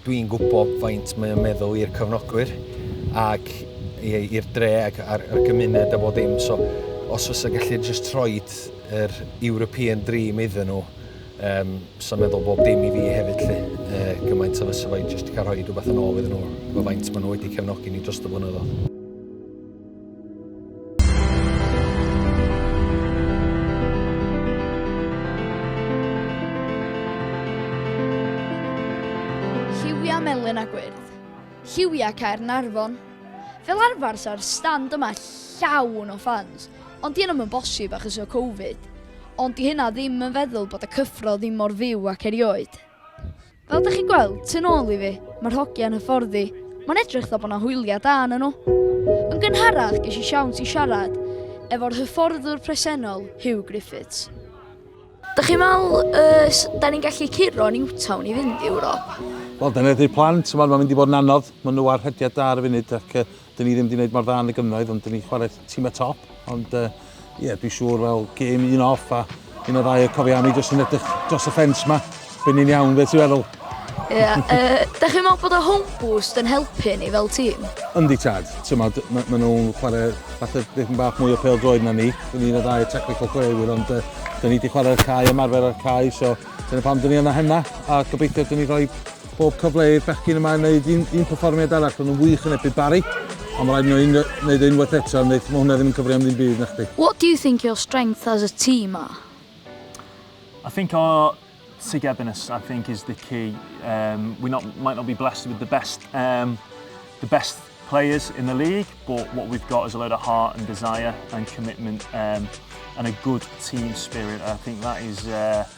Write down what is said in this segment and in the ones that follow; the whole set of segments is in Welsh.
Dwi'n gwybod faint mae o'n meddwl i'r cyfnogwyr ac i'r dre ac a'r gymuned a bob dim, so os fysa gallu jyst rhoid yr European dream iddyn nhw, um, sa'n meddwl bob dim i fi hefyd lly, uh, gymaint o fysa fo'i jyst cael rhoi rhywbeth yn ôl iddyn nhw, efo faint maen nhw wedi cefnogi ni dros y blynyddoedd. Lliwiau melyn a gwyrdd. Lliwiau cair narfon. Fel arfer sa'r stand yma llawn o fans, ond di yna'n bosib achos o Covid. Ond di hynna ddim yn feddwl bod y cyffro ddim mor fyw ac erioed. Fel dych chi'n gweld, tu nôl i fi, mae'r hogia yn hyfforddi. Mae'n edrych dda bod yna hwyliau da yn nhw. Yn gynharach, ges i siawns i siarad efo'r hyfforddwr presennol, Hugh Griffiths. Dych chi'n meddwl, uh, da ni'n gallu curo Newtown i fynd i Ewrop? Wel, dyna ydy'r plan. Mae'n mynd i fod yn anodd. Mae nhw ar rhediad da ar y funud ac uh, Dyn ni ddim wedi gwneud mor dda yn y gynnoedd, ond dyn ni chwarae tîm y top. Ond ie, uh, yeah, dwi'n siŵr fel gêm un off a un o ddau o cofiau ni jyst yn edrych dros y ffens ma. Byn ni'n iawn, beth ti'n feddwl? Ie, yeah, uh, da chi'n meddwl bod y home boost yn helpu ni fel tîm? Yndi tad, tymod, maen ma nhw'n chwarae fath o ddim bach mwy o pel droed na ni. Dyn ni'n ddau technical chwaraewyr, ond uh, dyn ni wedi chwarae'r cae, ymarfer ar cae, so dyna pam dyn ni yna hynna, a gobeithio dyn ni rhoi Pob cyfle i'r bechgyn yma wneud un, un perfformiad arall, ond yn wych yn ebydd Barry. Ond mae rhaid nhw un, wneud e unwaith eto, ond mae hwnna ddim yn cyfri am ddim byd, na chdi. What do you think your strength as a team are? I think our togetherness, I think, is the key. Um, we not, might not be blessed with the best, um, the best players in the league, but what we've got is a load of heart and desire and commitment um, and a good team spirit. I think that is uh,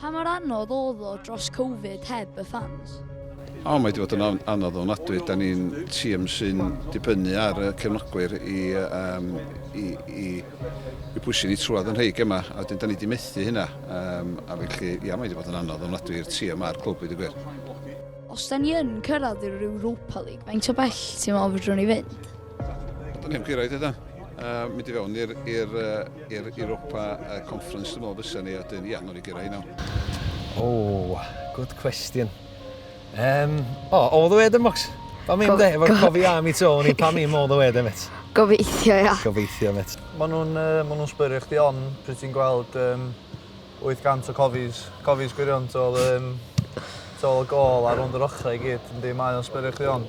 Pa mor anodd oedd o dros Covid heb y ffans? O, mae 'di bod yn anodd ofnadwy. Da ni'n tîm sy'n dibynnu ar y cefnogwyr i, um, i, i, i bwysu ni trwad yn rhai gemau, a wedyn da ni wedi methu hynna. Um, a felly, ia, mae 'di bod yn anodd ofnadwy i'r tîm a'r clwb i gwir. Os da ni yn cyrraedd i'r Europa League, faint o bell ti'n meddwl fedrwn ni fynd? Dyna ni'n gyrraedd yna. Uh, mynd i fewn i'r Europa uh, Conference, dwi'n meddwl fysa ni, a dyn, ia, nhw'n i gyrraedd yna. O, oh, good question. Um, o, oh, all the way then, Mox. Pa mi ymde, efo'r cofi am i to, ni pa mi all the way then, met. Gobeithio, ia. Gobeithio, met. Mae nhw'n uh, ma nhw sbyrio'ch di on, pryd ti'n gweld um, 800 o cofis, cofis gwirion, tol, um, tol y gol ar ond yr ochrau i gyd, yndi, mae o'n sbyrio'ch di on.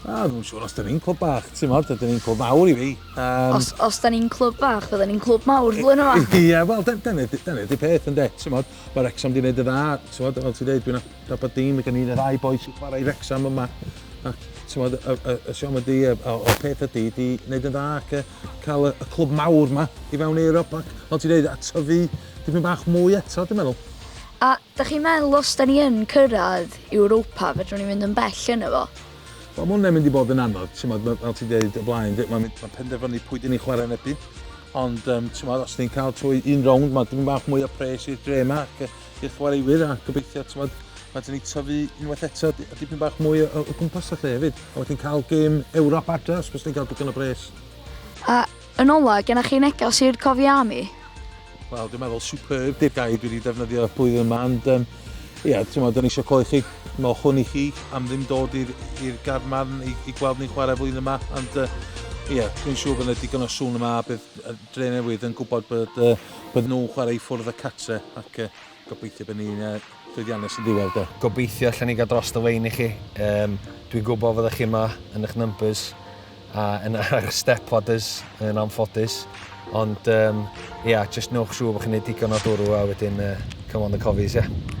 A, dwi'n siŵr os da ni'n clwb bach, ti'n modd, da ni'n clwb mawr i fi. Um, os, os da ni'n clwb bach, fydda ni'n clwb mawr flwyddyn yma. Ie, yeah, wel, da, da, da ni di peth yn det, ti'n modd. Mae Rexham di wneud y dda, ti'n modd, fel ti'n dweud, dwi'n abod dim, mae gen i'n y ddau boi sy'n chwarae i Rexham yma. A, ti'n modd, y, y, y siom ydi, y, y, y peth ydi, di wneud y dda ac cael y, y clwb mawr yma i fewn i Ewrop. Ac, fel ti'n dweud, a tyfu dipyn bach mwy eto, dwi'n meddwl. A Dach chi'n meddwl os dan ni yn cyrraedd Europa fedrwn ni fynd yn bell yno fo? Wel ma' hwnna'n mynd i bod yn anodd, t'mod ma' fel ti'n deud o blaen d- ma' mynd ma' penderfynu pwy dyn ni'n chwarae yn ebyn ond yym t'mod os ni'n cael trwy un rownd ma' dipyn bach mwy o pres i'r dre ma' ac yy i'r chwaraewyr a gobeithio t'mod ma' dyn ni tyfu unwaith eto di- a dipyn bach mwy o o gwmpas a lle hefyd a wedyn cael gêm Ewrop adre os byswn ni'n cael digon o bres. A Yn ola, gennych chi neges i'r cofiami? Wel, dwi'n meddwl superb di'r gair dwi wedi defnyddio blwyddyn yma, ond um, ia, ti'n meddwl, dyn eisiau cloi chi, mewch hwn i chi, am ddim dod i'r garmarn i, i gweld ni'n chwarae flwyddyn yma, ond uh, Ie, yeah, dwi'n siŵr bod yna digon o sŵn yma a bydd Dre Newydd yn gwybod bod, uh, bod nhw'n chwarae i ffwrdd y catre ac uh, Gobeithio bod ni'n yy llwyddiannus yn ddiwedd de. Gobeithio allen ni gael dros y lein i chi. Yym dwi'n gwybod fyddech chi yma yn eich numbers a yn ar step ladders yn anffodus. Ond um, ia, yeah, just newch siŵr bod chi'n gwneud digon o dwrw a wedyn uh, come on the cofies, ia. Yeah.